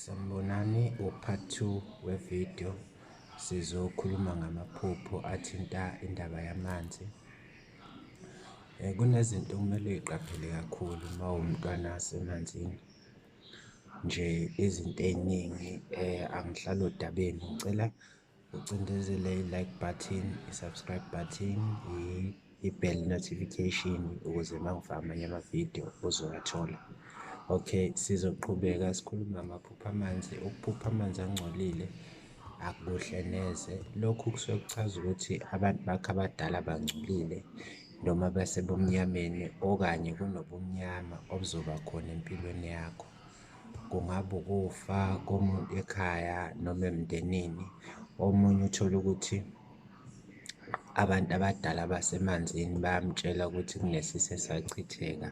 Sanibonani upart two wevidiyo sizokhuluma ngamaphupho athinta indaba yamanzi. Eh, kunezinto okumele uyiqaphele kakhulu uma umntwana asemanzini nje izinto ey'ningi eh, angihlali odabeni ngicela ucindezele i-like button i-subscribe button i-bell notification ukuze uma ngifaka amanye amavidiyo uzowathola okay sizoqhubeka sikhuluma amaphupha amanzi ukuphupha amanzi angcolile akuhle neze lokhu kusuke kuchaza ukuthi abantu bakho abadala bangcolile noma basebumnyameni okanye kunobumnyama obuzoba khona empilweni yakho kungaba ukufa komuntu ekhaya noma emndenini. Omunye uthole ukuthi abantu abadala basemanzini bayamtshela ukuthi kunesisi esachitheka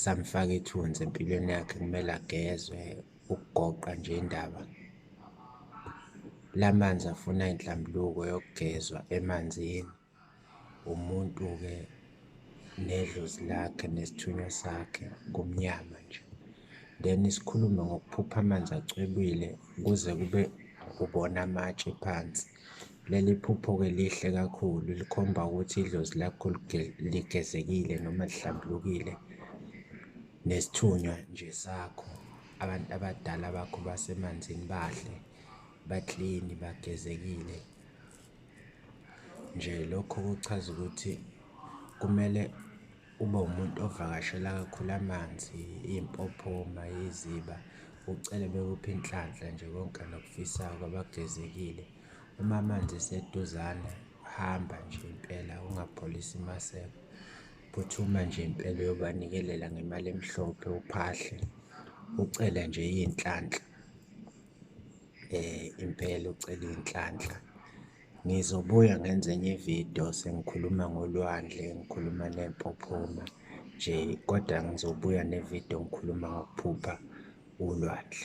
samfaka ithunzi empilweni yakhe kumele agezwe ukugoqa nje indaba. La manzi afuna inhlambuluko yokugezwa emanzini. umuntu-ke nedlozi lakhe nesithunywa sakhe kumnyama nje. Then sikhulume ngokuphupha amanzi acwebile kuze kube ubona amatshe phansi. Leli phupho-ke lihle kakhulu likhomba ukuthi idlozi lakho ligezekile noma lihlambulukile nesithunywa nje sakho. Abantu abadala bakho basemanzini bahle, baklini, bagezekile. Nje lokho kuchaza ukuthi kumele ube umuntu ovakashela kakhulu amanzi, iy'mpophoma, iziba, ucele bekuphe inhlanhla nje konke nokufisayo kwabagezekile. Uma amanzi eseduzane, hamba nje impela ungapholisi maseko. Phuthuma nje impela uyobanikelela ngemali emhlophe, uphahle, ucele nje iy'nhlanhla. eh impela ucela inhlanhla ngizobuya ngenze enye ividiyo sengikhuluma ngolwandle ngikhuluma nempophoma nje kodwa ngizobuya nevidiyo ngikhuluma ngokuphupha ulwandle